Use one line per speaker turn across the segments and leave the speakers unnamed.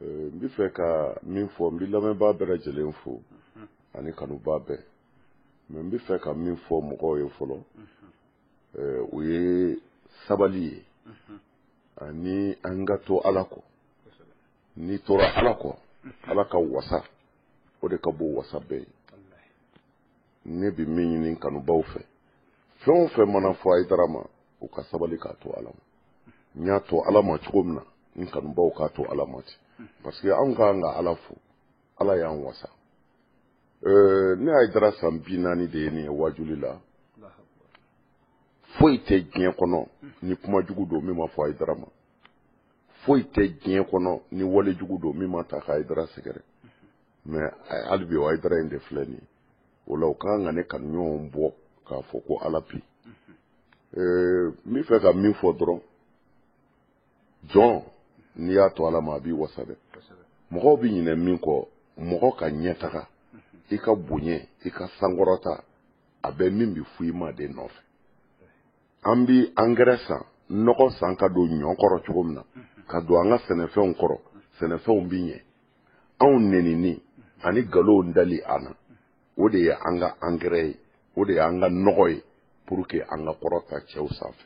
Euh, n bɛ fɛ ka min fɔ n bɛ lamɛnbaa bɛɛ lajɛlen fo mhm. ani kanubaa bɛɛ mais n bɛ fɛ ka min fɔ mɔgɔw ye fɔlɔ mhm. euh, o ye sabali ye mhm. ani an ka to ala kɔ n'i tora ala kɔ ala ka wasa o de ka bon wasa bɛɛ ye ne bɛ min ɲini kanubaw fɛ fɛn o fɛn mana fɔ ayidara ma u ka sabali k'a to ala ma n y'a to ala ma cogo min na n kanubaw k'a to ala ma ten parce que anw ka kan ka ala fo ala y'an wasa euh, ne ayidara san bi naani de ye nin ye waajuli la foyi tɛ diɲɛ kɔnɔ ni kuma jugu don min ma fɔ ayidara ma foyi tɛ diɲɛ kɔnɔ ni wale jugu don min ma ta ka ayidara sɛgɛrɛ mais hali bi o ayidara in de filɛ nin ye o la o ka kan ka ne kanuɲɔgɔnw bɔ k'a fɔ ko ala bi n bɛ fɛ ka min fɔ dɔrɔn jɔn n'i y'a to ala ma a b'i wasa dɛ mɔgɔw bɛ ɲinɛ min kɔ mɔgɔ ka ɲɛtaga i ka bonya i ka sankɔrɔta a bɛ min bɛ fɔ i ma de nɔfɛ an bɛ angɛrɛ san nɔgɔ san ka don ɲɔ kɔrɔ cogo min na ka don an ka sɛnɛfɛnw kɔrɔ sɛnɛfɛnw bɛ ɲɛ anw nenini ani nkalonw dali an na o de ye an ka angɛrɛ ye o de ye an ka nɔgɔ ye pour que an ka kɔrɔta cɛw sanfɛ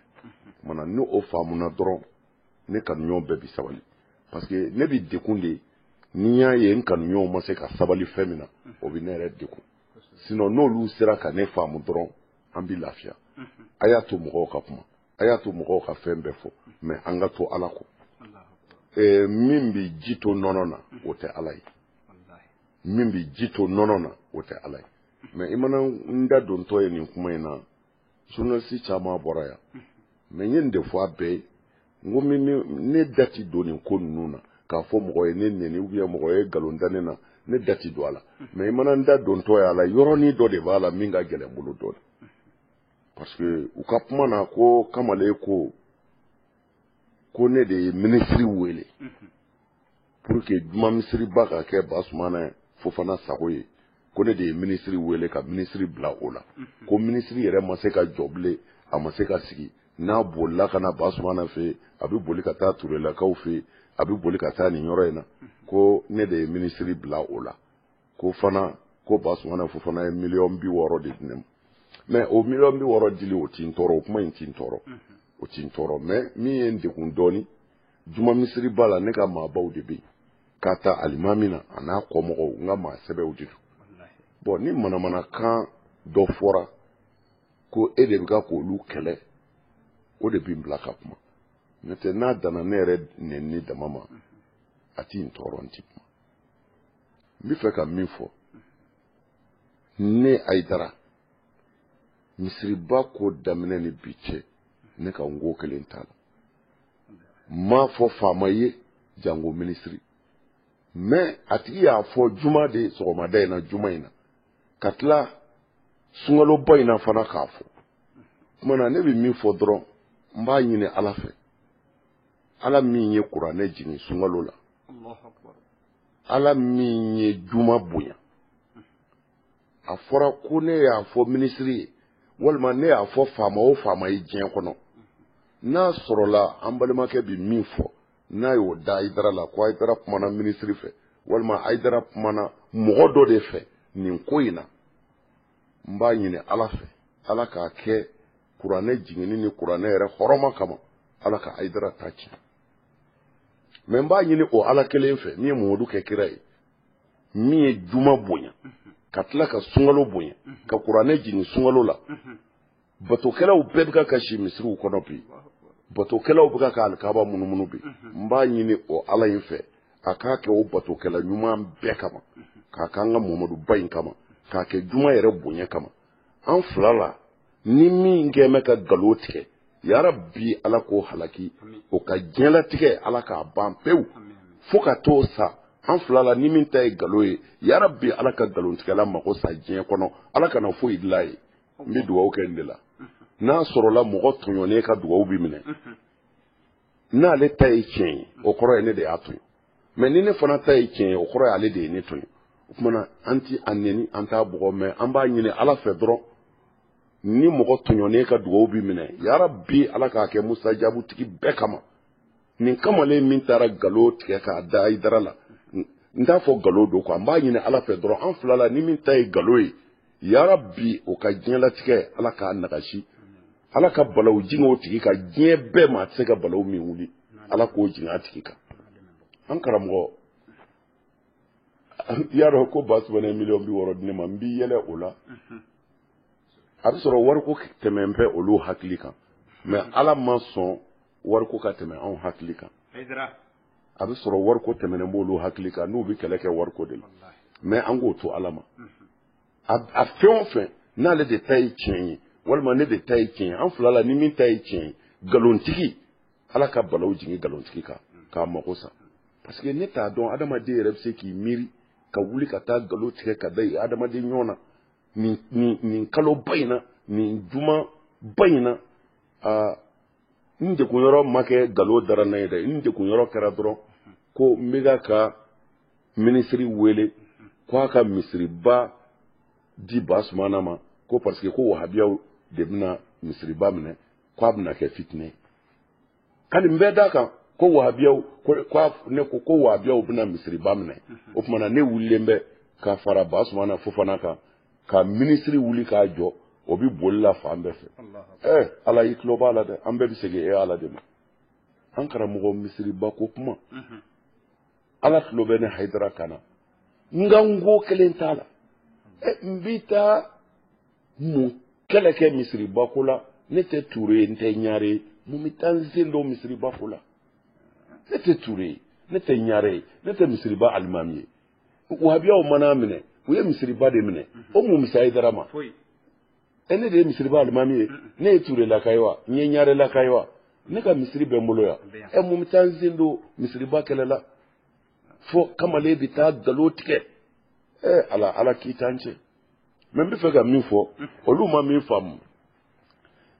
u mana ni o faamuna dɔrɔn ne kanuɲɔgɔn bɛɛ bi sabali parce que ne bi degun de ni y'a ye n kanuɲɔgɔnw ma se ka sabali fɛn min na o bi ne yɛrɛ degun sinon n'olu sera ka ne faamu dɔrɔn an bi lafiya a y'a to mɔgɔw ka kuma a y'a to mɔgɔw ka fɛn bɛɛ fɔ mais an ka to ala kɔ eh, min bɛ ji to nɔnɔ na o tɛ ala ye min bɛ ji to nɔnɔ na o tɛ ala ye mais i mana n da dontɔ ye nin kuma in na journaliste caman bɔra yan mais n ye nin de fɔ a bɛɛ ye n ko ne da ti don nin ko ninnu na k'a fɔ mɔgɔ ye ne neni ou bien mɔgɔ ye nkalon da ne na ne da ti don a la mais i mana n da dontɔ ye a la yɔrɔnin dɔ de b'a la min ka gɛlɛn bolo dɔɔnin parce que u ka kuma na ko kamalen ko ko ne de ye minisiri wele pour que juma misiriba ka kɛ basumana fofana sago ye ko ne de ye minisiri wele ka minisiri bila o la ko minisiri yɛrɛ ma se ka jɔ bilen a ma se ka sigi n'a bolila ka na basumana fɛ a bɛ boli ka taa turelakaw fɛ a bɛ boli ka taa nin yɔrɔ in na ko ne de ye minisiri bila o la ko fana ko basumana fofana ye miliyɔn bi wɔɔrɔ de di ne ma mɛ o miliyɔn bi wɔɔrɔ dili o ti n tɔɔrɔ o kuma in ti n tɔɔrɔ o ti n tɔɔrɔ mɛ min ye n degun dɔɔni juma misiriba la ne ka maabaw de bɛ yen ka ta alimami na a n'a kɔmɔgɔw n ka maa sɛbɛw de don bɔn ni manamanakan dɔ fɔra ko e de bɛ ka k'olu kɛlɛ o de bɛ n bila ka kuma n'o tɛ n'a danna ne yɛrɛ nɛnini dama ma a ti n tɔɔrɔ n ti kuma n bɛ fɛ ka min fɔ ne ayidara misiriba ko daminɛ ni bi cɛ ne kan ko kelen t'a la n m'a fɔ faama ye janko minisiri mɛ a tigi y'a fɔ juma de sɔgɔmada in na juma in na ka tila sunkaloba in na fana k'a fɔ kuma na ne bɛ min fɔ dɔrɔn n b'a ɲini ala fɛ ala min ye kuranɛ jigin sunkalo la ala min ye juma bonya a fɔra ko ne y'a fɔ minisiri ye walima ne y'a fɔ faama o faama ye diɲɛ kɔnɔ n'a sɔrɔla an balimakɛ bi min fɔ n'a y'o da ayidara la ko ayidara kumana minisiri fɛ walima ayidara kumana mɔgɔ dɔ de fɛ nin ko in na n b'a ɲini ala fɛ ala k'a kɛ kuranɛ jiginni ni kuranɛ yɛrɛ hɔrɔma kama ala ka ayidara ta tiɲɛ mɛ n b'a ɲini o ala kelen fɛ min ye mɔmadu kɛ kira ye min ye juma bonya ka tila ka sunkalo bonya ka kuranɛ jigin sunkalo la batokɛlaw bɛɛ bɛ ka kasi misiriw kɔnɔ bi batokɛlaw bɛ ka ka alikaba munumunu bi n b'a ɲini o ala in fɛ a k'a kɛ o batokɛla ɲuman bɛɛ kama k'a k'an ka mɔmadu ba in kama k'a kɛ juma yɛrɛ bonya kama an fila la ni min kɛ bɛ ka nkalon tigɛ yarabi ala k'o halaki o ka diɲɛlatigɛ ala k'a ban pewu fo ka t'o sa an fila la ni min ta ye nkalon ye yarabi ala ka nkalontigɛla mago sa diɲɛ kɔnɔ ala kana foyi dilan ye n bɛ dugawu kɛ nin de la n'a sɔrɔla mɔgɔ tɔɲɔnen ka dugawu bɛ minɛ n'ale ta ye tiɲɛ ye o kɔrɔ ye ne de y'a tɔɲɔ mɛ ni ne fana ta ye tiɲɛ ye o kɔrɔ ye ale de ye ne tɔɲɔ o tuma na an ti a neni an t'a bugɔ mɛ an b'a ɲini ala fɛ dɔrɔn ni mɔgɔ tɔɲɔnen ka dugawu bi minɛ yarabi ala k'a kɛ musajabu tigi bɛɛ kama nin kamalen min taara nkalon tigɛ k'a da ayidara la n t'a fɔ nkalon don kuwa n b'a ɲini ala fɛ dɔrɔn an fila la ni min ta ye nkalon ye yarabi o ka diɲɛlatigɛ ala k'a nagasi ala ka balaw jigin o tigi kan diɲɛ bɛɛ ma a tɛ se ka balaw min wuli ala k'o jigin a tigi kan an karamɔgɔ i y'a dɔn ko ba sumana ye miliyɔn bi wɔɔrɔ di ne ma n bɛ yɛlɛ o la a bɛ sɔrɔ wariko tɛmɛnen bɛ olu hakili kan mais ala ma sɔn wariko ka tɛmɛ anw hakili kan a bɛ sɔrɔ wariko tɛmɛnen b'olu hakili kan n'u bɛ kɛlɛ kɛ wariko de la mais an k'o to ala ma a fɛn o fɛn n'ale de ta ye tiɲɛ ye walima ne de ta ye tiɲɛ ye an fila la ni min ta ye tiɲɛ ye nkalontigi ala ka balaw jigin nkalontigi kan k'a mago sa parce que ne t'a dɔn adamaden yɛrɛ bɛ se k'i miiri ka wuli ka taa nkalon tigɛ ka da i adamaden ɲɔgɔn na nin nin nin kaloba in na nin juma ba in na aa n degun yɔrɔ ma kɛ nkalon dara n na ye dɛ n degun yɔrɔ kɛra dɔrɔn ko n bɛ ka ka minisiri wele ko a ka misiriba di ba sumana ma ko parce que ko wahabiyaw de bɛna misiriba minɛ ko a bɛna kɛ fitinɛ ye ka nin bɛɛ d'a kan ko wahabiyaw ko ne ko ko wahabiyaw bɛna misiriba minɛ o tuma na ne wulilen bɛ ka fara ba sumana fofana kan ka minisiri wuli k'a jɔ o bɛ boli la fan bɛɛ fɛ ɛ eh, ala i tulo b'a la dɛ an bɛɛ bɛ segin e ala de ma an karamɔgɔ misiriba ko kuma mhm. ala tulo bɛ ne hayidara kan na nka n ko kelen t'a la ɛ eh, n bɛ taa mun kɛlɛ kɛ misiriba ko la ne tɛ ture ye n tɛ ɲare ye mun bɛ taa n sen don misiriba ko la ne tɛ ture ye ne tɛ ɲare ye ne tɛ misiriba alimami ye wahabiyaw man'a minɛ u ye misiriba de minɛ o mun bɛ se hayidara ma e ne de ye misiriba alimami ye ne ye turelaka ye wa n ye ɲarelaka ye wa ne ka misiri bɛ n bolo yan ɛ mun bɛ taa n sen don misiriba kɛlɛ la fo kamalen bɛ taa nkalon tigɛ ɛ ala ala kiiti an cɛ mais n bɛ fɛ ka min fɔ olu ma min faamu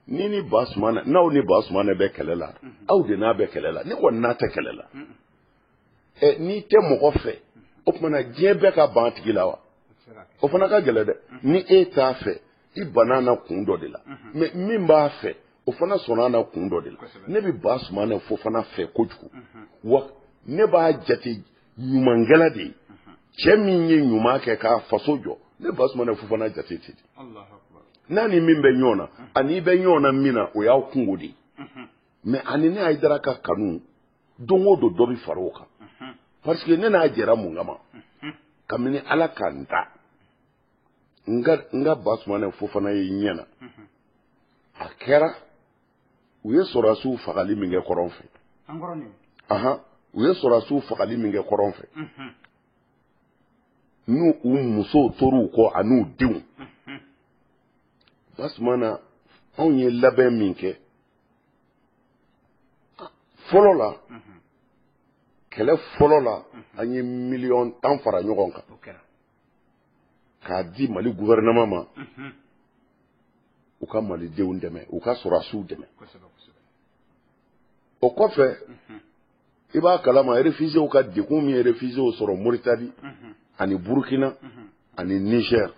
ni ni ba sumana n'aw ni ba sumana bɛ kɛlɛ la aw de n'a bɛ kɛlɛ la ne kɔni n'a tɛ kɛlɛ la ɛ n'i tɛ mɔgɔ fɛ o tuma na diɲɛ bɛɛ ka ban a tigi la wa o fana ka gɛlɛn dɛ ni e t'a fɛ i banna na kun dɔ de la mais min b'a fɛ o fana sɔnna na kun dɔ de la ne bɛ ba sumana fofana fɛ kojugu wa ne b'a jate ɲumankɛla de ye cɛ min ye ɲuman kɛ k'a faso jɔ ne ba sumana fofana jate ten de n'a ni min bɛ ɲɔgɔn na ani i bɛ ɲɔgɔn na min na o y'aw kungo de ye mais ani ne hayidara ka kanu don o don dɔ bɛ fara o kan parce que ne n'a jɛra mun kama kabini ala ka n ta n ka n ka basumana fofana ye ɲɛ na a kɛra u ye sɔrɔdasiw fagali min kɛ kɔrɔn fɛ ahan u ye sɔrɔdasiw fagali min kɛ kɔrɔn fɛ n'u musow tor'u kɔ an'u denw basumana anw ye labɛn min kɛ fɔlɔ la kɛlɛ fɔlɔ la an ye miliyɔn tan fara ɲɔgɔn kan k'a di mali guvɛrɛnɛma ma u ka malidenw dɛmɛ u ka sɔrɔdasiw dɛmɛ o kɔfɛ i b'a kalama réfugiéw ka degun min ye réfugiéw sɔrɔ moritani ani burukina ani nizɛr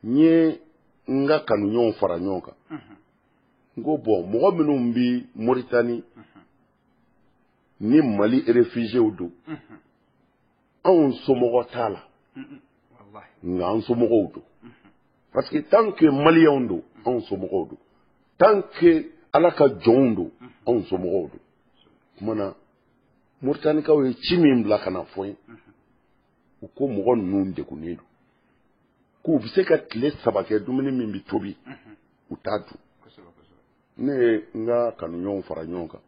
n ye n ka kanuɲɔgɔnw fara ɲɔgɔn kan n ko bon mɔgɔ minnu bɛ moritani ni mali réfugiéw don anw somɔgɔ t'a la nka an somɔgɔw don parce que tant que maliyɛnw don anw somɔgɔw don tant que ala ka jɔnw don anw somɔgɔw don kuma na moritanikaw ye ci min bila ka n'a fɔ n ye u ko mɔgɔ ninnu degunnen don k'u bɛ se ka tile saba kɛ dumuni min bɛ tobi u t'a dun ne ye n ka kanuɲɔgɔnw fara ɲɔgɔn kan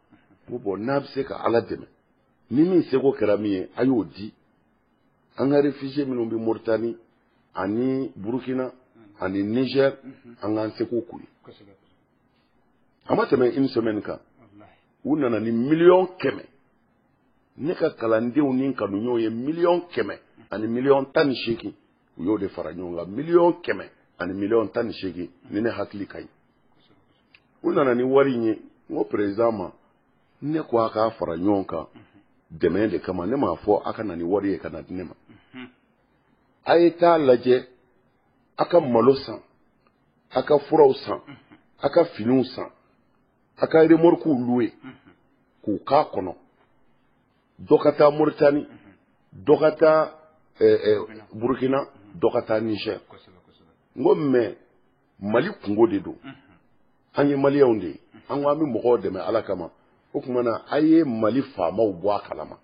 ko bon n'a bɛ se ka ala dɛmɛ ni min seko kɛra min ye a y'o di an ka réfugié minnu bɛ moritani ani burukina ani niger an k'an seko k'u ye a ma tɛmɛ une semaine kan u nana ni miliyɔn kɛmɛ ne ka kalandenw ni kanuɲɔgɔnw ye miliyɔn kɛmɛ ani miliyɔn tan ni seegin u y'o de fara ɲɔgɔn kan miliyɔn kɛmɛ ani miliyɔn tan ni seegin ni ne hakili ka ɲi u nana ni wari in ye n ko perezidan ma ne ko a k'a fara ɲɔgɔn kan dɛmɛ de kama ne m'a fɔ a ka na ni wari ye ka n'a di ne ma a ye taa lajɛ a ka malo san a ka furaw san a ka finiw san a ka remɔrikiw luwe k'u k'a kɔnɔ dɔ ka taa moritani dɔ ka taa eh, eh, burkina dɔ ka taa niger n ko mais mali kunko de don an ye maliyɛnw de ye an ko an bɛ mɔgɔw dɛmɛ ala kama o tuma na a ye mali faamaw bɔ a kalama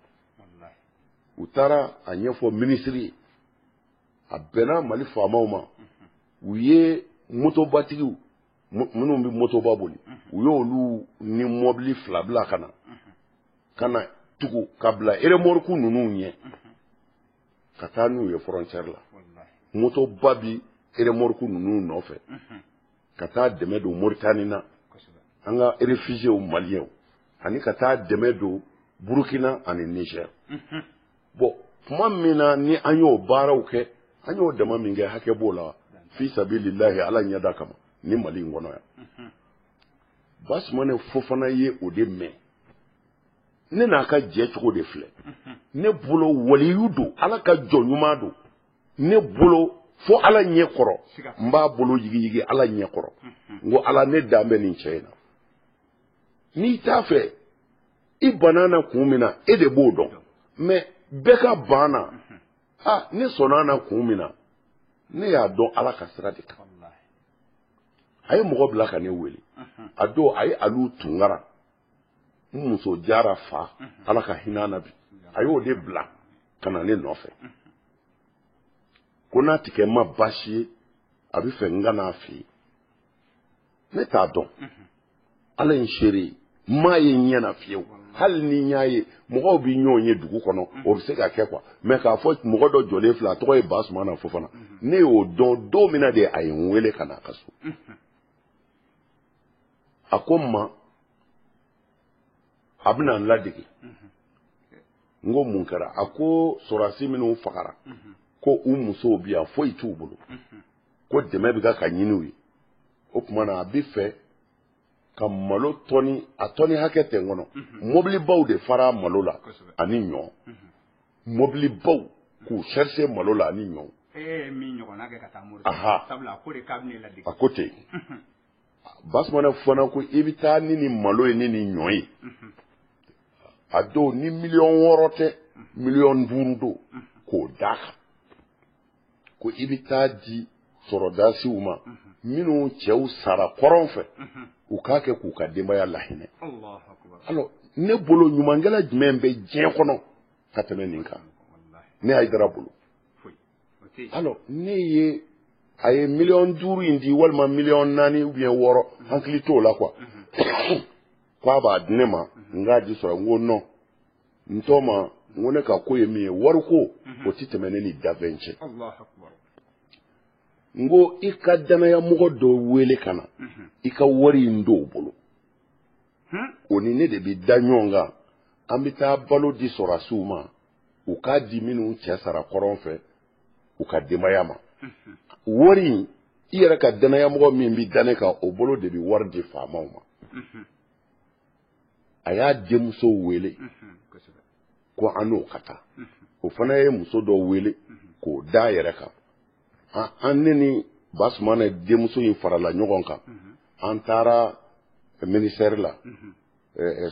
u taara a ɲɛfɔ minisiri ye a bɛnna mali faamaw ma u ye motobatigiw minnu bɛ motoba boli u y'olu ni mɔbili fila bila ka na ka na tugu ka bila eremɔriku ninnu ɲɛ ka taa n'u ye fɔrɔncɛri la motoba bi eremɔriku ninnu nɔfɛ ka taa dɛmɛ don moritani na an ka erefizew maliyɛnw ani ka taa dɛmɛ don burukina ani nizɛri bɔn tuma min na ni an y'o baaraw kɛ an y'o dama min kɛ hakɛ b'o la fi sabilillahi ala ɲɛda kama nin mali in kɔnɔ yan basumane fofana ye o de mɛn ne n'a ka jɛ cogo de filɛ ne bolo waliyu don ala ka jɔn ɲuman don ne bolo fo ala ɲɛ kɔrɔ n b'a bolo yigiyigi ala ɲɛ kɔrɔ n ko ala ne dan bɛ nin cɛ in na n'i t'a fɛ i banna na kun min na e de b'o dɔn mɛ bɛɛ ka ban na a ne sɔnna na kun min na ne y'a dɔn ala ka sira de kan a ye mɔgɔ bila ka ne wele a don a ye alu tunkara n muso jara fa ala ka hinɛ na bi a y'o de bila ka na ne nɔfɛ ko n'a tɛ kɛ n ma baasi ye a bɛ fɛ n ka n'a fɛ yen ne t'a dɔn ala ye n seere ye n m'a ye n ɲɛ na fiyewu hali ni n y'a ye mɔgɔw bɛ ɲɔgɔn ye dugu kɔnɔ o bɛ se ka kɛ kuwa mɛ k'a fɔ mɔgɔ dɔ jɔlen filɛ a tɔgɔ ye basumana fofana ne y'o dɔn don min na de a ye n wele ka na a ka so a ko n ma a bɛna n ladege n ko mun kɛra a ko sɔrɔdasi minnu fagara ko u musow bi yan foyi t'u bolo ko dɛmɛ bɛ ka ka ɲini u ye o tuma na a bɛ fɛ ka malo tɔni a tɔni hakɛ tɛ n kɔnɔ mhm. mɔbilibaw de fara malo la ani ɲɔ mhm. mɔbilibaw k'u sarize malo la ani ɲɔ. e ye min ɲɔgɔnna kɛ ka taa mori sabula a ko de k'a bɛ ne ladege. a ko ten mhm. basumana fana ko i bɛ taa ni nin malo ye ni nin ɲɔ ye a don ni miliyɔn wɔɔrɔ tɛ miliyɔn duuru don k'o d'a kan. ko i bɛ taa di sɔrɔdasiw ma minnu cɛw sara kɔrɔn fɛ u k'a kɛ k'u ka denbaya lahinɛ alɔ ne bolo ɲumankɛla jumɛn bɛ diɲɛ kɔnɔ ka tɛmɛ nin kan ne hayidara bolo alɔ ne ye a ye miliyɔn duuru in di walima miliyɔn naani ubiyɛn wɔɔrɔ hakili t'o la kuwa k'a b'a di ne ma n k'a di sɔrɔ n ko nɔn n tɔma n ko ne ka ko ye min ye wariko o tɛ tɛmɛ ne ni danfɛn cɛ n ko i ka dannayamɔgɔ dɔ wele ka na i ka wari in don o bolo o ni ne de bɛ da ɲɔgɔn kan an bɛ taa balo di sɔrɔdasiw ma u k'a di minnu cɛ sara kɔrɔn fɛ u ka denbaya ma wari in i yɛrɛ ka dannayamɔgɔ min bɛ da ne kan o bolo de bɛ wari di faamaw ma a y'a denmuso wele ko an n'o ka taa o fana ye muso dɔ wele k'o da a yɛrɛ kan an ne ni basumana denmuso in farala ɲɔgɔn kan an taara minisitɛri la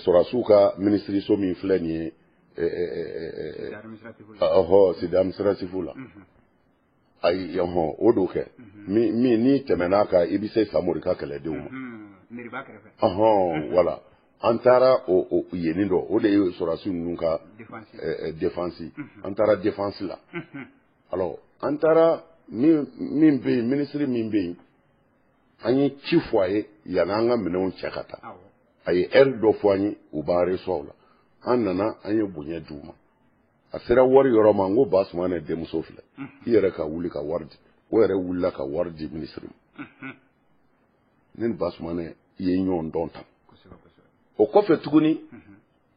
sɔrɔdasiw ka minisiriso min filɛ nin ye ɔhɔ site adiminisitiratifu la ayi yan hɔn o don kɛ min min n'i tɛmɛn'a kan i bɛ se samori ka kɛlɛdenw ma meriba kɛrɛfɛ ɔhɔn wala an taara o o yenni dɔ o de ye sɔrɔdasi ninnu ka defansi an taara defansi la alors an taara min min bɛ yen minisiri min bɛ yen an ye ci fɔ a ye yanni an ka minɛnw cɛ ka taa a ye ɛri dɔ fɔ an ye u b'an reçoit la an nana an ye bonya di u ma a sera wari yɔrɔ ma n ko basumana denmuso filɛ i yɛrɛ ka wuli ka wari di o yɛrɛ wulila ka wari di minisiri ma ne ni basumana ye ɲɔgɔn dɔn tan o kɔfɛ tuguni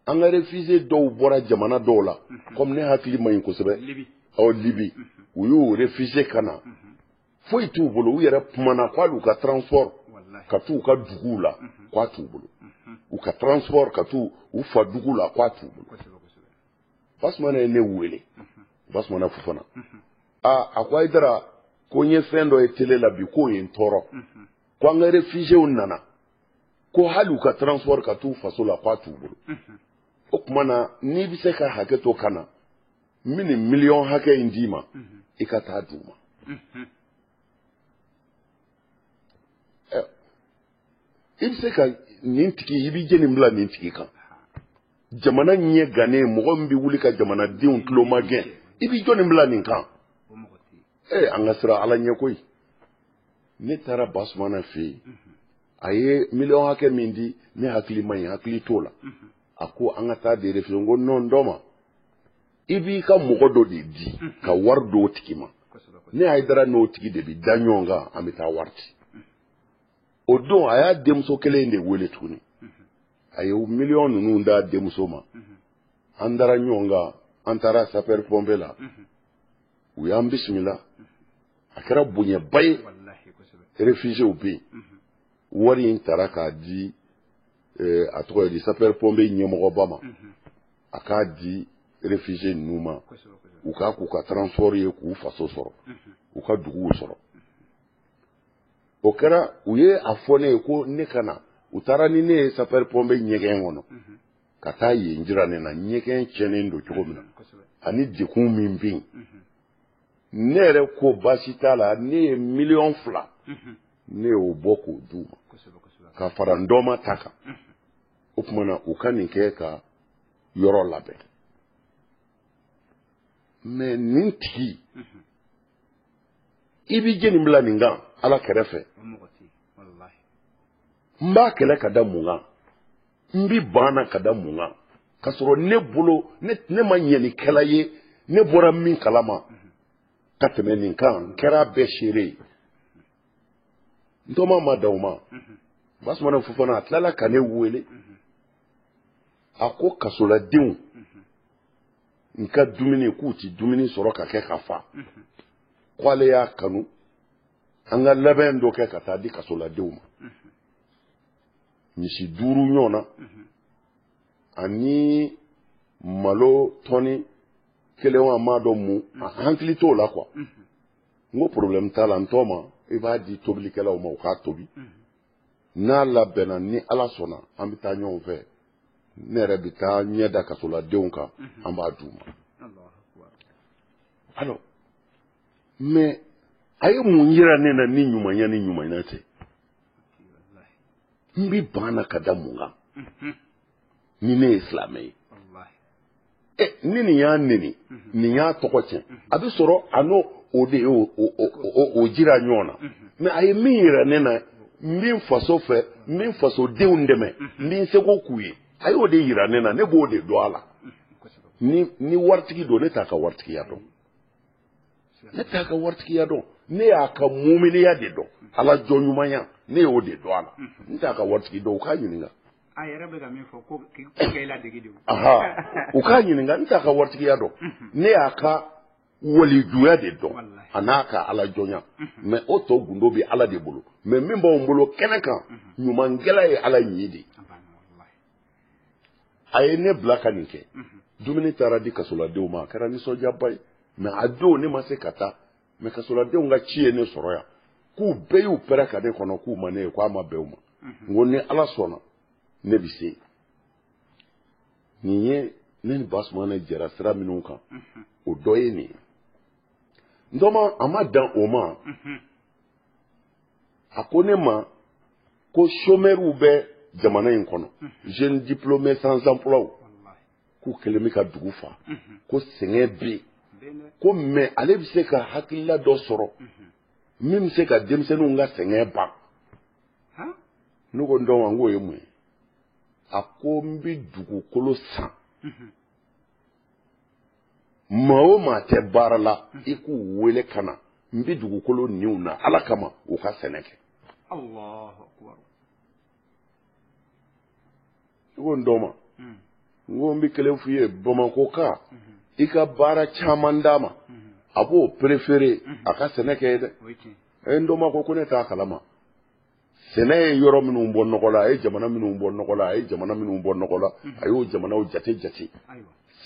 an ka réfugié dɔw bɔra jamana dɔw la kɔmi ne hakili man ɲi kosɛbɛ ɔ libi u y'u réfugié ka na foyi t'u bolo u yɛrɛ kumana ko hali u ka transport ka t'u ka duguw la k'a t'u bolo u ka transport ka t'u u fa dugu la k'a t'u bolo basumana ye ne wele basumana fofana aa a ko hayidara ko n ye fɛn dɔ ye tele la bi k'o ye n tɔɔrɔ ko an ka réfugiéw nana ko hali u ka transport ka t'u faso la k'a t'u bolo o tuma na n'i bɛ se ka hakɛ to ka na n bɛ nin miliyɔn hakɛ in d'i ma i ka taa d'u ma i bɛ se ka nin tigi i bɛ jɛni bila nin tigi kan jamana ɲɛ gannen mɔgɔ min bɛ wuli ka jamanadenw tulomagɛn i bɛ jɔni bila nin kan ee an ka siran ala ɲɛ koyi ne taara basumana fɛ yen a ye miliyɔn hakɛ min di ne hakili man ɲi hakili t'o la a ko an ka taa de fɛ yen n ko nɔn n tɔma i b'i ka mɔgɔ dɔ de di ka wari d'o tigi ma ne hayidara n'o tigi de bi da ɲɔgɔn kan an bɛ taa wari ci o don a y'a denmuso kelen in de wele tuguni a ye miliyɔn ninnu d'a denmuso ma an dara ɲɔgɔn kan an taara sapɛri pɔnpiye la u y'an bisimila a kɛra bonyaba ye réfugiéw bɛ yen wari in tara k'a di eh, a tɔgɔ ye di sapeur pompier ɲɛmɔgɔba ma mhm. a k'a di réfugiés ninnu ma u k'a k'u ka transport ye k'u faso sɔrɔ mhm. u ka duguw sɔrɔ o kɛra u ye a fɔ ne ye ko ne ka na u taara ni ne ye sapeur pompier ɲɛgɛn kɔnɔ mhm. ka taa yen jira ne na ɲɛgɛn cɛnnen don cogo min na ani dekun min bɛ yen ne yɛrɛ ko baasi t'a la ne ye miliyɔn fila ne y'o bɔ k'o d'u ma ka fara n tɔma ta kan o tuma na u ka nin kɛ ka yɔrɔ labɛn mɛ nin tigi i b'i jeni bila nin kan ala kɛrɛfɛ n b'a kɛlɛ ka da mun kan n bi ban a na ka da mun kan k'a sɔrɔ ne bolo ne ma ɲɛnikɛla ye ne bɔra min kalama ka tɛmɛ nin kan n kɛra a bɛɛ seere ye n tɔma a ma dan o ma basumana fofana a tilala ka ne wele a ko kasoladenw n ka dumuni k'u ti dumuni sɔrɔ ka kɛ ka fa k'ale y'a kanu an ka labɛn dɔ kɛ ka taa di kasoladenw ma misi duuru ɲɔgɔn na ani malo tɔni kelen wa n m'a dɔn mun n hakili t'o la kuwa n ko problème t'a la n tɔma i b'a di tobilikɛlaw ma u k'a tobi n'a labɛnna ni ala sɔnna an bɛ taa ɲɔgɔn fɛ ne yɛrɛ bɛ taa n ɲɛ da kasoladenw kan an b'a d'u ma alors mɛ a ye mun yira ne na ni ɲumanya ni ɲumanya tɛ n bɛ ban a na ka da mun kan mhm. ni ne ye silamɛ ye ɛ eh, ni nin y'a neni mhm. nin y'a tɔgɔ tiɲɛ mhm. a bɛ sɔrɔ a n'o de ye o jira ɲɔgɔn na mɛ a ye min yira ne na n bɛ n faso fɛ n bɛ n fasodenw dɛmɛ n bɛ n seko k'u ye a y'o de yira ne na ne b'o de dɔn a la ni waritigi don ne t'a ka waritigiya dɔn ne t'a ka waritigiya dɔn ne y'a ka muminiya de dɔn ala jɔnɲumanya ne y'o de dɔn a la n t'a ka waritigi dɔn u k'a ɲininka a yɛrɛ bɛ ka min
fɔ ko k'e ladege de u k'a
ɲininka n t'a ka waritigiya dɔn ne y'a ka walijuya de dɔn a n'a ka ala jɔnya mɛ o tɔ gundo bɛ ala de bolo mɛ min b'anw bolo kɛnɛ kan ɲumankɛla ye ala ɲi de a ye ne bila ka nin kɛ dumuni taara di kasoladenw ma a kɛra nisɔndiyaba ye mɛ a don ne ma se ka taa mɛ kasoladenw ka ci ye ne sɔrɔ yan k'u bɛɛ y'u pɛrɛ ka ne kɔnɔ k'u ma ne ye k'a ma bɛn u ma n ko ni ala sɔnna ne bɛ se nin ye ne ni basumana jɛra sira minnu kan o dɔ ye nin ye n tɔma a ma dan o ma a ko ne ma ko somɛriw bɛ jamana in kɔnɔ jeune diplômé sans emploi k'u kɛlen bɛ ka dugu fa ko sɛgɛn bɛ yen ko mais ale bɛ se ka hakilila dɔ sɔrɔ min bɛ se ka denmisɛnninw ka sɛgɛn ban ne ko n dɔma n k'o ye mun ye a ko n bɛ dugukolo san maa o maa tɛ baara la i k'u wele ka na n bɛ dugukolo ni u na ala kama u ka sɛnɛ kɛ i ko n dɔma hmm. n ko n bɛ kelen f'i ye bamakɔka hmm. i ka baara caman d'a ma hmm. a b'o préféré a ka sɛnɛ kɛ ye dɛ ɛ n dɔma ko ko ne t'a kalama sɛnɛ ye yɔrɔ minnu bɔ nɔgɔ la a ye jamana minnu bɔ nɔgɔ la a ye jamana minnu bɔ nɔgɔ la a y'o jamanaw jate jate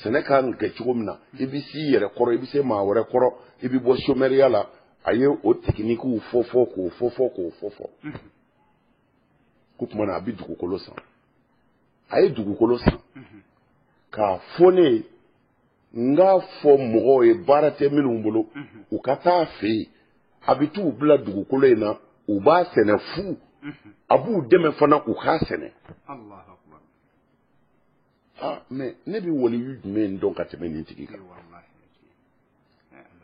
sɛnɛ ka kan kɛ cogo min na i bɛ s'i yɛrɛ kɔrɔ i bɛ se maa wɛrɛ kɔrɔ i bɛ bɔ somɛriya la a ye o tekinikiw fɔ fɔ k'o fɔ fɔ k'o fɔ fɔ ko tuma na a bɛ dugukolo san a ye dugukolo san k'a fɔ ne ye n k'a fɔ mɔgɔw ye baara tɛ minnu bolo u ka t'a fɛ yen a bɛ t'u bila dugukolo in na u b'a sɛnɛ fu a b'u dɛmɛ fana u k'a sɛnɛ ah mais ne bɛ waliyu jumɛn dɔn ka tɛmɛ nin tigi kan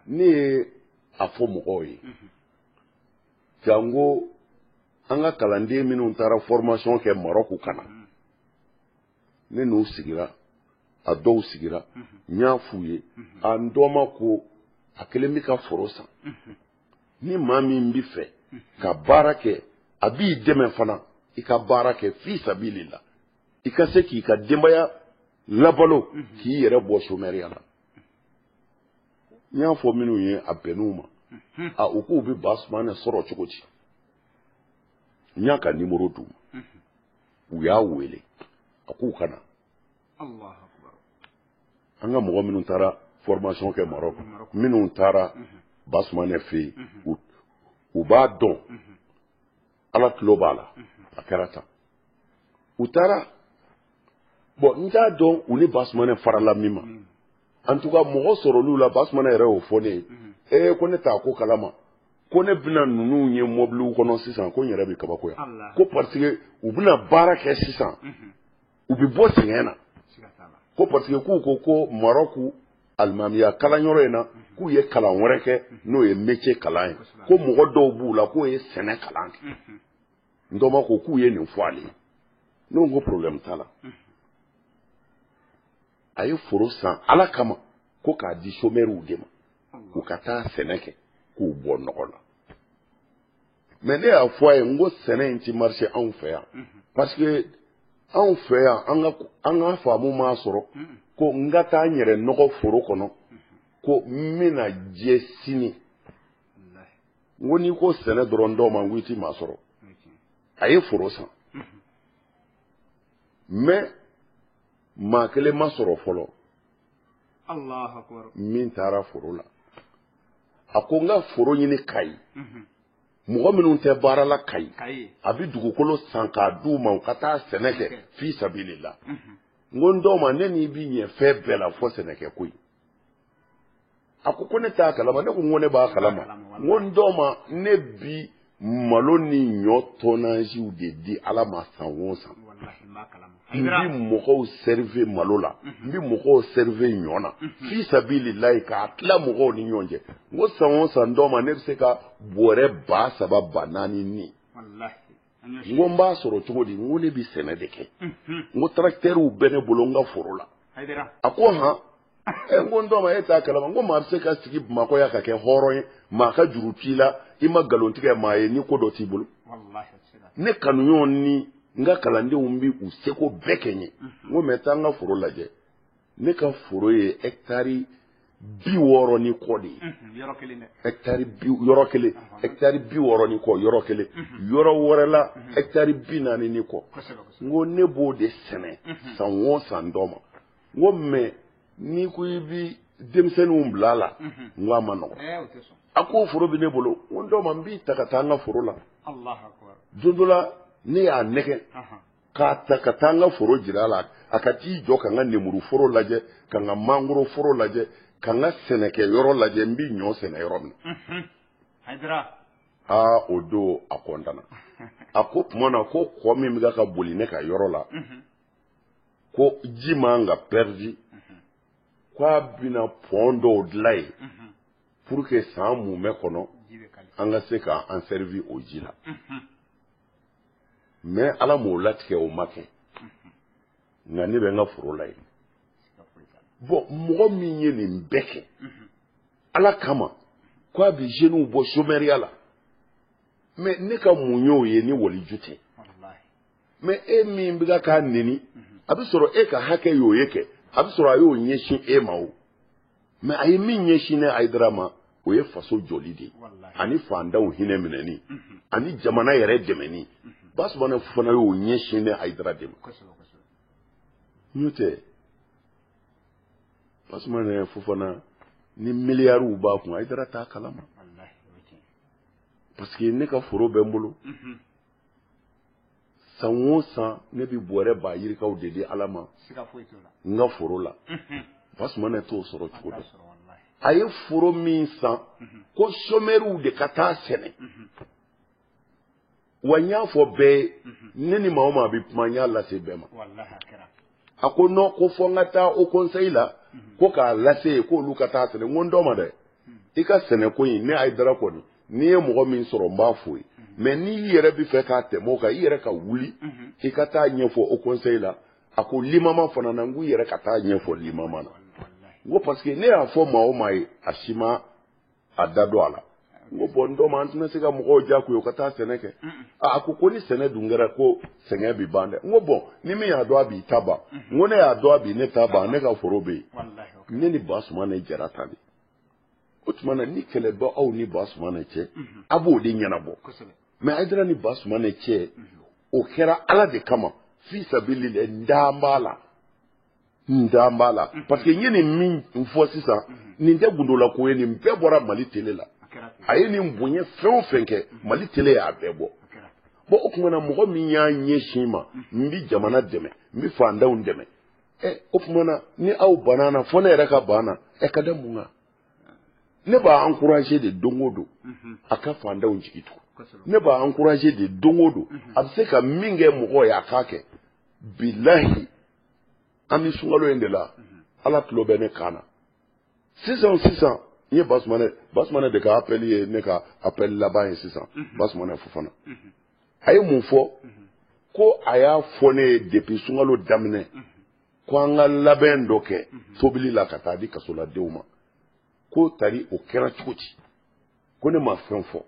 ne ye a fɔ mɔgɔw ye janko an ka kalanden minnu taara formation kɛ marɔku ka na ne n'u sigira a dɔw sigira n y'a f'u ye a n dɔma ko a kɛlen bɛ ka foro san ni maa min bɛ fɛ ka baara kɛ a b'i dɛmɛ fana i ka baara kɛ fi sabilillah i ka se k'i ka denbaya labalo k'i yɛrɛ bɔ somɛriya la n y'a fɔ minnu ye a bɛnn'u ma a u k'u bɛ basumana sɔrɔ cogo di n y'a ka nimoro d'u ma u y'a wele a k'u ka na an ka mɔgɔ minnu taara formation kɛ marɔk minnu taara basumanɛ fɛ yen u b'a dɔn ala tulo b'a la a kɛra tan u taara bon n t'a dɔn u ni basumanɛ farala min ma en tout cas mɔgɔ sɔrɔl'u la basumana yɛrɛ y'o fɔ ne ye mhm. ee ko ne t'a ko kalama ko ne bɛna ninnu ye mɔbiliw kɔnɔ sisan ko n yɛrɛ bɛ kabakoya ko parce que u bɛna baara kɛ sisan mhm. u bɛ bɔ sɛgɛn na ko parce que k'u ko ko marɔku alimamiya kalanyɔrɔ in na mhm. k'u ye kalan wɛrɛ kɛ n'o ye métier kalan ye ko mɔgɔ dɔw b'u la k'o ye sɛnɛ kalan kɛ n dɔma ko k'u ye nin fɔ ale ye ne ko ko problème t'a la a ye foro san ala kama ko k'a di sɔmɛriw de ma u ka taa sɛnɛ kɛ k'u bɔ nɔgɔ la mɛ ne y'a fɔ a ye n ko sɛnɛ in ti marche anw fɛ yan parce que anw fɛ yan an ka faamu m'a sɔrɔ ko n ka taa n yɛrɛ nɔgɔ foro kɔnɔ ko n bɛna jɛ sini n ko n'i ko sɛnɛ dɔrɔn n tɔgɔma n ko i ti maa sɔrɔ a ye foro san mɛ maa kelen ma sɔrɔ fɔlɔ min taara foro la a ko n ka foro ɲini kayi mhm. mɔgɔ minnu tɛ baara la kayi a bɛ dugukolo san k'a di u ma u ka taa sɛnɛ kɛ fi sabilila mhm. n ko n tɔgɔma ne n'i bi ɲɛ fɛn bɛɛ la fɔ sɛnɛkɛ ko ye a ko ko ne t'a kalama ne ko n ko ne b'a kalama n ko n tɔgɔma ne bi malo ni ɲɔ tɔnaziw de di ala ma san o san n bi mɔgɔw sɛrive malo la n bi mɔgɔw sɛrive ɲɔ na fi sabililayi k'a tila mɔgɔw ni ɲɔgɔn cɛ n ko san o san n tɔgɔma ne bɛ se ka bɔrɛ ba saba ba naani ni n ko n b'a sɔrɔ cogo di n ko ne bɛ sɛnɛ de kɛ n ko tarakitɛriw bɛ ne bolo n ka foro la a ko han ɛ n ko n tɔgɔma e t'a kalama n ko maa bɛ se ka sigi bamakɔ yan ka kɛ hɔrɔn ye maa ka juru t'i la i ma nkalon tigɛ maa ye ni ko dɔ t'i bolo ne kanuɲɔgɔn ni n ka kalandenw bɛ u seko bɛɛ kɛ n ye n ko mɛ taa n ka foro lajɛ ne ka foro ye ɛkitari bi wɔɔrɔ ni kɔ de ye yɔrɔ kelen ɛkitari bi wɔɔrɔ ni kɔ yɔrɔ kelen yɔrɔ wɛrɛ la ɛkitari bi naani ni kɔ n ko ne b'o de sɛnɛ san o san n tɔgɔma n ko mɛ n'i ko i bi denmisɛnninw bila a la n ko a man nɔgɔn a ko foro bɛ ne bolo n ko n tɔgɔma n b'i ta ka taa n ka foro la don dɔ la ne y'a nɛgɛn k'a ta ka taa n ka foro jira a la a ka t'i jɔ ka n ka nemuru foro lajɛ ka n ka mangoro foro lajɛ ka n ka sɛnɛkɛ yɔrɔ lajɛ n bɛ ɲɔ sɛnɛ yɔrɔ min na aa o don a kɔntana a ko tuma na ko kɔ min bɛ ka boli ne ka yɔrɔ la ko ji man ka pɛridi ko a bɛna pɔn dɔw dilan yen pour que san mumɛ kɔnɔ an ka se k'an sɛrivi o ji la mɛ ala m'o latigɛ o ma kɛ nka ne bɛ n ka foro la yen bon mɔgɔ min ye nin bɛɛ kɛ ala kama ko a bɛ zeniw bɔ sɔmɛriya la mɛ ne ka mun y'o ye ni waliju tɛ mɛ e min bɛ k'a neni a bɛ sɔrɔ e ka hakɛ y'o ye kɛ a bɛ sɔrɔ a y'o ɲɛsin e ma o mɛ a ye min ɲɛsin ne ayidara ma o ye faso jɔli de ye ani fantanw hinɛ minɛni mhm. ani jamana yɛrɛ dɛmɛni mhm. basumana fofana y'o ɲɛsin ne ayidara de ma n'o tɛ basumana fofana ni miliyariw b'a kun ayidara t'a kalama parce que ne ka foro bɛ n bolo mhm. san o san ne bɛ bɔrɛ ba yirikaw de di ala ma n ka foro la basumana t'o sɔrɔ cogo dɔ a ye foro min san ko somɛriw de ka taa sɛnɛ wa n y'a fɔ bɛɛ ye ne ni maa o maa bɛ kuma n y'a lase bɛɛ ma a ko non ko fɔ n ka taa haut conseil la ko k'a lase ye k'olu ka taa sɛnɛ n ko n dɔ ma dɛ i ka sɛnɛko in ne ayidara kɔni n'i ye mɔgɔ min sɔrɔ n b'a fɔ ye mɛ n'i yɛrɛ bɛ fɛ k'a tɛmɛ o kan i yɛrɛ ka wuli i ka taa ɲɛfɔ haut conseil la a ko limama fana na n ko i yɛrɛ ka taa ɲɛfɔ limama na n ko parce que ne y'a fɔ maa o maa ye a si ma a da don a la n ko bɔn n dɔ ma an tɛna se ka mɔgɔw diyagoya u ka taa sɛnɛ kɛ a ko ko ni sɛnɛ dun kɛra ko sɛgɛn bɛ ban dɛ n ko bɔn ni min y'a dɔn a b'i ta ban n ko ne y'a dɔn a bi ne ta ban ne ka foro bɛ yen ne ni basumana jara ta de o tuma na ni kɛlɛ bɛ aw ni basumana cɛ a b'o de ɲɛnabɔ mɛ ayidara ni basumana cɛ o kɛra ala de kama fi sabililahi n dan b'a la n dan b'a la parce que n ye nin min fɔ sisan nin tɛ gundola ko ye nin bɛɛ bɔra mali tele la a ye nin bonya fɛn o fɛn kɛ mali tele y'a bɛɛ bɔ bɔn o tuma na mɔgɔ min y'a ɲɛsin ma n bi jamana dɛmɛ n bi fandanw dɛmɛ ɛ o tuma na ni aw banna na fɔ ne yɛrɛ ka ban na ɛ ka da mun kan ne b'a encourager de don o don a ka fandanw jigi tugu ne b'a encourager de don o don a bɛ se ka min kɛ mɔgɔ ye a k'a kɛ bilahi an bɛ sunkalo in de la ala tulo bɛ ne kan na sisan sisan n ye basumana basumana de ka apɛli ye ne ka apɛli laban ye sisan basumana fofana a ye mun fɔ ko a y'a fɔ ne ye depuis sunkalo daminɛ ko an ka labɛn dɔ kɛ tobili la ka taa di kasoladenw ma ko tari o kɛra cogo di ko ne ma fɛn fɔ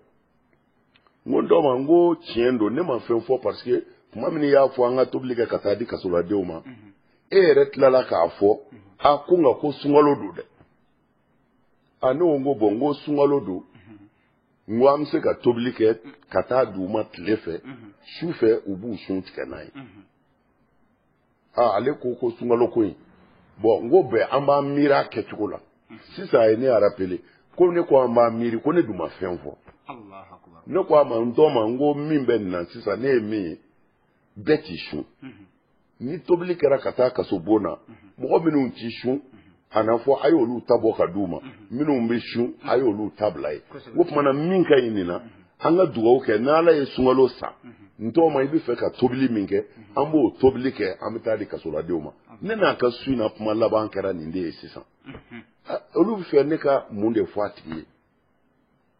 n ko dɔ ma n ko tiɲɛ don ne ma fɛn fɔ parce que tuma min i y'a fɔ an ka tobili kɛ ka taa di kasoladenw ma mhm. e yɛrɛ tilala k'a fɔ mhm. a ko nka ko sunkalo don dɛ a ne ko n ko bɔn n ko sunkalo don mhm. n ko an bɛ se ka tobili kɛ ka taa di u ma tile fɛ su fɛ u b'u sun tigɛ n'a ye aa ale ko ko sunkalo ko in bɔn n ko bɛn an b'an miiri a kɛcogo la sisan a ye ne rappeler ko ne ko an b'an miiri ko ne dun ma fɛn fɔ ne ko a ma n dɔ ma n ko min bɛ nin na sisan ne ye min ye bɛɛ t'i sun ni tobili kɛra ka taa kasobon na mɔgɔ minnu t'i sun a na fɔ a ye olu ta bɔ ka di u ma minnu bɛ sun a ye olu ta bila yen o tuma na min ka ɲi nin na an ka dugawu kɛ n'ala ye sunkalo sa n tɔgɔma i bɛ fɛ ka tobili min kɛ an b'o tobili kɛ an bɛ taa di kasoladenw ma ne n'a ka su in na kuma laban kɛra nin de ye sisan olu bɛ fɛ ne ka mun de fɔ a tigi ye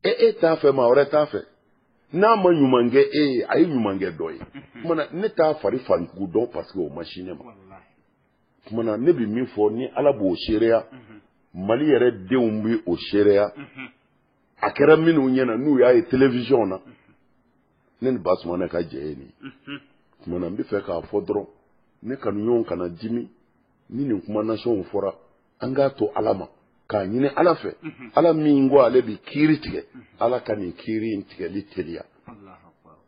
e e t'a fɛ maa wɛrɛ b'a fɛ n'a ma ɲuman kɛ e ye a ye ɲuman kɛ dɔ ye o tuma na ne t'a fari fan jugu dɔn parce que o ma sin ne ma. tuma na ne bɛ min fɔ ni ala b'o seereya mali yɛrɛ denw bɛ o seereya a kɛra minnu ɲɛna n'u y'a ye telefisiyɔn na ne ni basumana ka jɛ ye nin tuma na n bɛ fɛ k'a fɔ dɔrɔn ne kanuɲɔgɔn kana dimi ni nin kuma nasɔnw fɔra an k'a to ala ma k'a ɲini ala fɛ ala min ko ale bɛ kiiri tigɛ ala ka nin kiiri in tigɛli teliya